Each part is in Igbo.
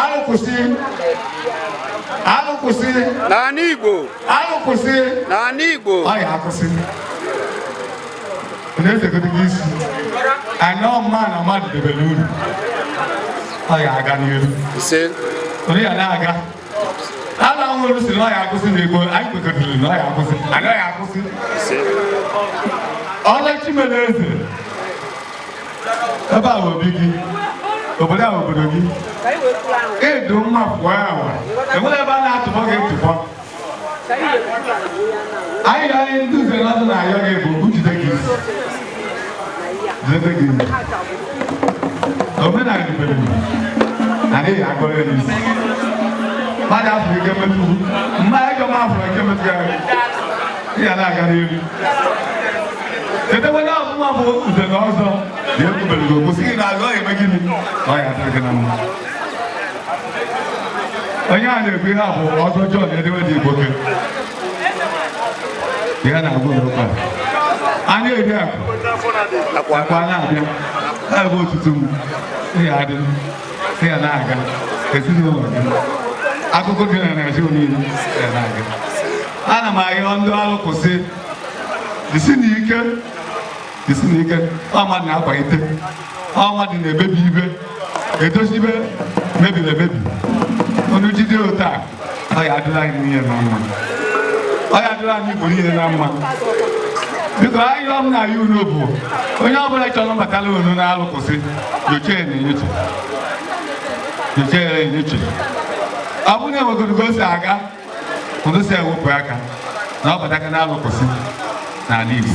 Alụ kwụsị. Alụ kwụsị. N'ala Igbo. Alụ kwụsị. N'ala Igbo. Ọ ya akwụsị. Na-esegodo gị isi. Anyị ọ mma na mmadụ debere uru. Ọ ya aga n'iru. Ise. Onu ya na-aga. Alụ nwere si na ọ ya akwụsị na Igbo. Anyị kwekọtara na ọ ya akwụsị. Alụ ya akwụsị. Ise. Ọla Chimeleze. ebe a obi gị obodo a obodo gị ịdụ mma pụọ awa enwere ebe a na-atụbọ gị ntụbọ anyị ga anyị ndị nze na ọzọ na-ayọ gị bụ jide gị isi jide gị isi omenala ibere na n'ihi agụrụ ya n'isi mmadụ afọ ike metụ mmadụ ike m afọ ike metụ ya ị ya na-aga n'elu chetakwa na ọbụma bụ nze na ọzọ dị ekwubere gị okwu sị gị na aga ọ eme gịnị na ọ ya adịrị gị na mma onye a na-ekwu ihe a bụ ọzọ John edewe dị igbo ihe a na-agwa n'ụka anya eri akụ akwa na-abịa abụ otutu m ị ya adị ị ya na-aga ezinụlọ gị akụkọ gị na Naịjirịa niile ị ya na-aga ana m ayọ ndị alụ kwụsị jisinụ ike jisinụ ike ọ mmadụ na-akwalite ọ mmadụ na-emebi ibe edozi ibe mebiri emebi onu jide otu a ọ ya adịlị anyị niile na mma ọ ya adịlị anyị Igbo niile na mma biko arịrịọ m na-ayọ unu bụ onye ọbụla chọrọ ịbatalụ unu na alụ kwụsị nyochee ya enyocha nyochee ya enyocha ọ bụrụ na enwegoro ka o si aga unu si ewepụ aka na ọ bataka na alụ kwụsị n'ala Igbo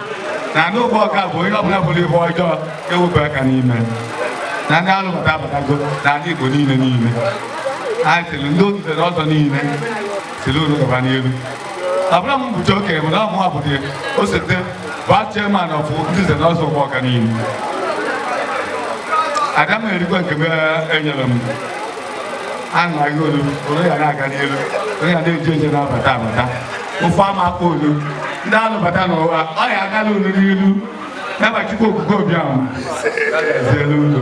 n'anị Ụgbọọka bụ onye ọbụla bụrụ ihe ọjọọ ewepụ aka n'ime na ndị alụpụta abatago n'anị Igbo niile niile anyị sịrị ndị otu nze na ọzọ niile sịrị unu gaba n'elu ọbụla m bụcha okenye bụ na ọ mụa bụdị osote vice chairman of ndị nze na ọzọ Ụgbọọka niile ada m erikwa nke m enyere m ana m agwa onu onu ya na-aga n'elu onu ya na-eji ije na-abata abata ife ama akpa onu ndị alụbata n'ụwa ọ ya agalụ onu n'ilu n'afa chukwu okike abiama ezielu ụlọ